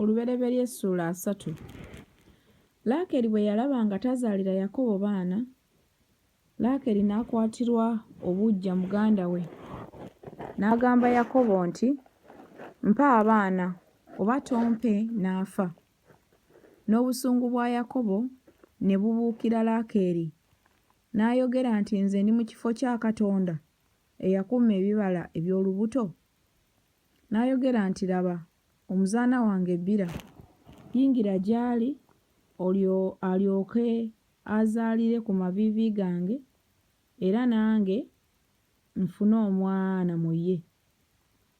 Olubereberye essuula asatu. Laakeri bwe yalaba nga tazaalira Yakobo baana, Laakeri n'akwatirwa obuggya muganda we, n'agamba Yakobo nti, Mpa abaana, oba tompe n'afa. N'obusungu bwa Yakobo ne bubuukira Laakeri, n'ayogera nti, Nze ndi mu kifo kya Katonda eyakuuma ebibala eby'olubuto? N'ayogera nti, Laba, omuzaana wange Biira, yingira gy'ali, olyo, alyoke azaalire ku maviivi gange, era nange nfune omwana mu ye.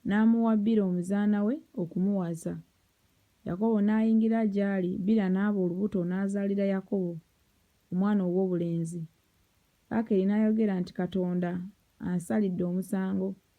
N'amuwa Biira omuzaana we okumuwasa. Yakobo n'ayingira gy'ali, Biira n'aba olubuto n'azaalira Yakobo omwana ow'obulenzi. Rakeli n'ayogera nti, Katonda ansalidde omusango.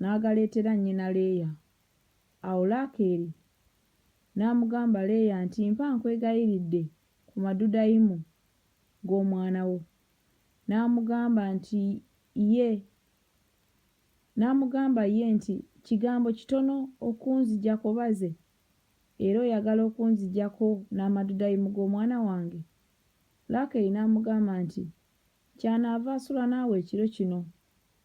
n'agaleetera nnyina Leeya. Awo Laakeeri n'amugamba Leeya nti, Mpa nkwegayiridde ku madudayimu g'omwana wo. N'amugamba nti, Ye. N'amugamba ye nti, Kigambo kitono okunzigyako baze, era oyagala okunzigyako n'amadudayimu g'omwana wange? Laakeeri n'amugamba nti, Kyanaava asula naawe ekiro kino.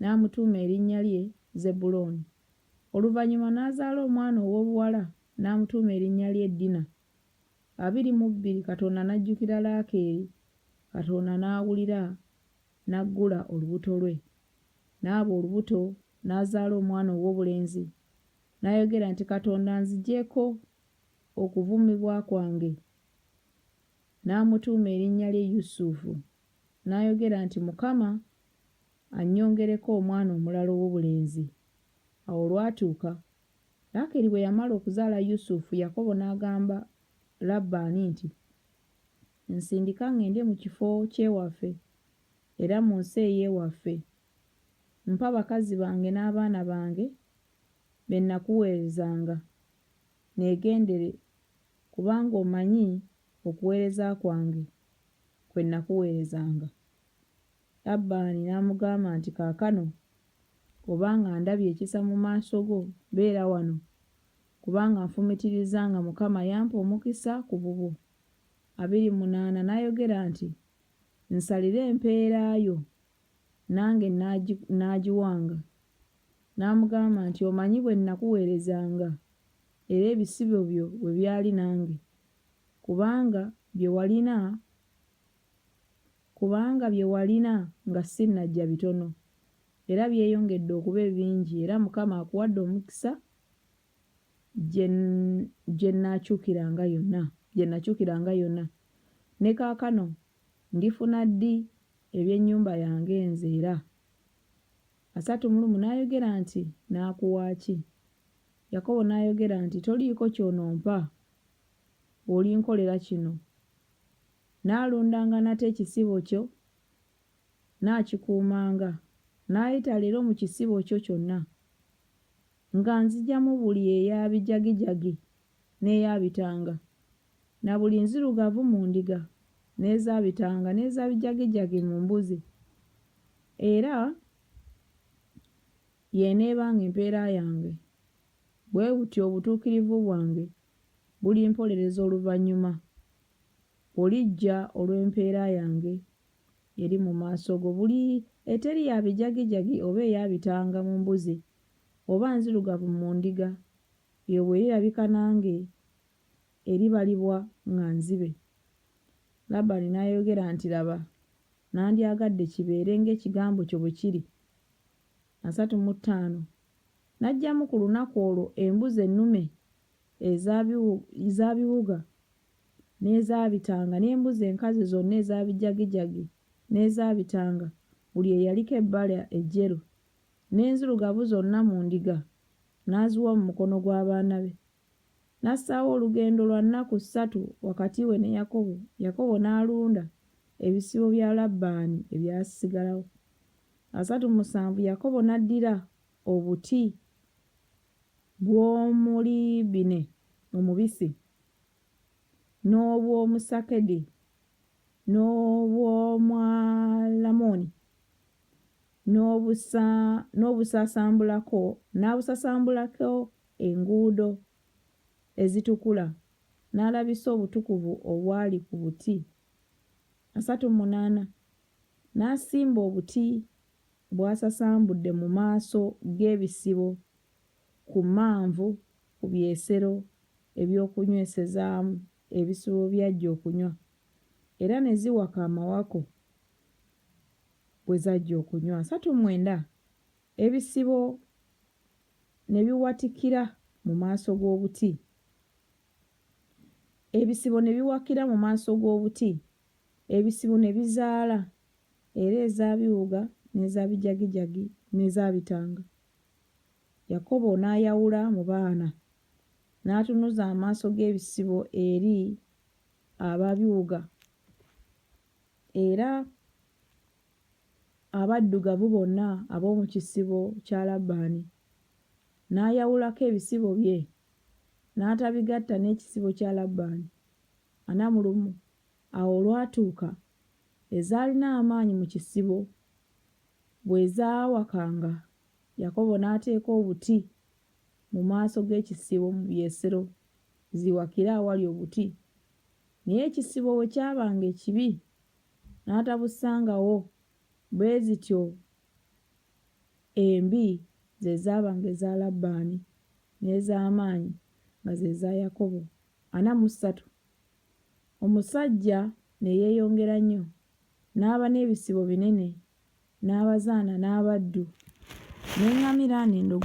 n'amutuuma erinnya lye Zebbulooni. Oluvannyuma n'azaala omwana ow'obuwala n'amutuuma erinnya lye Dina. Abiri mu bbiri Katonda n'ajjukira Laakeeri, Katonda n'awulira n'aggula olubuto lwe. N'aba olubuto n'azaala omwana ow'obulenzi, n'ayogera nti Katonda anzigyeko okuvumibwa kwange. N'amutuuma erinnya lye Yusufu, n'ayogera nti Mukama annyongereko omwana omulala ow'obulenzi. Awo olwatuuka, Laakeeri bwe yamala okuzaala Yusufu, Yakobo n'agamba Labbaani nti, Nsindika ŋŋende mu kifo ky'ewaffe era mu nsi ey'ewaffe. Mpa bakazi bange n'abaana bange be nnakuweerezanga, neegendere, kubanga omanyi okuweereza kwange kwe nnakuweerezanga. Labbaani n'amugamba nti, Kaakano obanga ndabye ekisa mu maaso go, beera wano, kubanga nfumitirizza nga Mukama yampa omukisa ku bubwo. Abiri mu munaana n'ayogera nti, Nsalire empeera yo, nange nnaagiwanga. N'amugamba nti, Omanyi bwe nnakuweerezanga, era ebisibo byo bwe byali nange, kubanga bye walina kubanga bye walina nga ssinnajja bitono era byeyongedde okuba ebingi era Mukama akuwadde omukisa gye gye nnakyukiranga yonna gye nnakyukiranga yonna ne kaakano ndifuna ddi eby'ennyumba yange nze era asatu mu lumu n'ayogera nti naakuwa ki Yakobo n'ayogera nti toliiko ky'onompa bw'olinkolera kino Nnaalundanga nate ekisibo kyo, nnaakikuumanga. Nnaayita leero mu kisibo kyo kyonna, nga nzigyamu buli eya bijagijagi n'eya bitanga, na buli nzirugavu mu ndiga, n'eza bitanga n'eza bijagijagi mu mbuzi, era y'eneebanga empeera yange. Bwe butyo obutuukirivu bwange bulimpolereza oluvannyuma, olijja olw'empeera yange eri mu maaso go, buli eteri ya bijagijagi oba eya bitanga mu mbuzi, oba nzirugavu mu ndiga, eyo bw'erirabika nange, eribalibwa nga nzibe. Labbaani n'ayogera nti, Laba, nandyagadde kibeere ng'ekigambo kyo bwe kiri. asatu mu ttaano, n'aggyamu ku lunaku olwo embuzi ennume eza eza biwuga n'eza bitanga, n'embuzi enkazi zonna eza bijagijagi n'eza bitanga, buli eyaliko ebbala ejjeru, n'enzirugavu zonna mu ndiga, n'aziwa mu mukono gw'abaana be. N'assaawo olugendo lwa nnaku ssatu wakati we ne Yakobo, Yakobo n'alunda ebisibo bya Labbaani ebyasigalawo. asatu mu musanvu Yakobo n'addira obuti bw'omuliibine omubisi, n'obw'omusakedi, n'obw'omwalamoni, n'obusasambulako n'abusasambulako enguudo ezitukula, n'alabisa obutukuvu obwali ku buti asatu mu munaana n'asimba obuti bw'asasambudde mu maaso g'ebisibo ku Manvu ku byesero eby'okunywesezaamu ebisibo by'ajja okunywa era ne ziwaka amawako bwe zajja okunywa asatu mwenda ebisibo ne biwatikira mu maaso g'obuti. Ebisibo ne biwakira mu maaso g'obuti, ebisibo ne bizaala, era eza biwuga n'eza bijagijagi n'eza bitanga. Yakobo n'ayawula mu baana, n'atunuza amaaso g'ebisibo eri aba biwuga, era abaddugavu bonna ab'omu kisibo kya Labbaani, n'ayawulako ebisibo bye n'atabigatta n'ekisibo kya Labbaani, ana mu lumu. Awo olwatuuka, ezaalina amaanyi mu kisibo bwe zaawakanga, Yakobo n'ateeka obuti mu maaso g'ekisibo mu by'esero ziwakire awali obuti. Naye ekisibo bwe kyabanga ekibi, n'atabusangawo. Bwe zityo embi ze zaabanga eza Labbaani, n'ez'amaanyi nga ze za Yakobo, ana mu ssatu. Omusajja ne yeeyongera nnyo, n'aba n'ebisibo binene, n'abazaana, n'abaddu, n'eŋŋamira, n'endogoyi.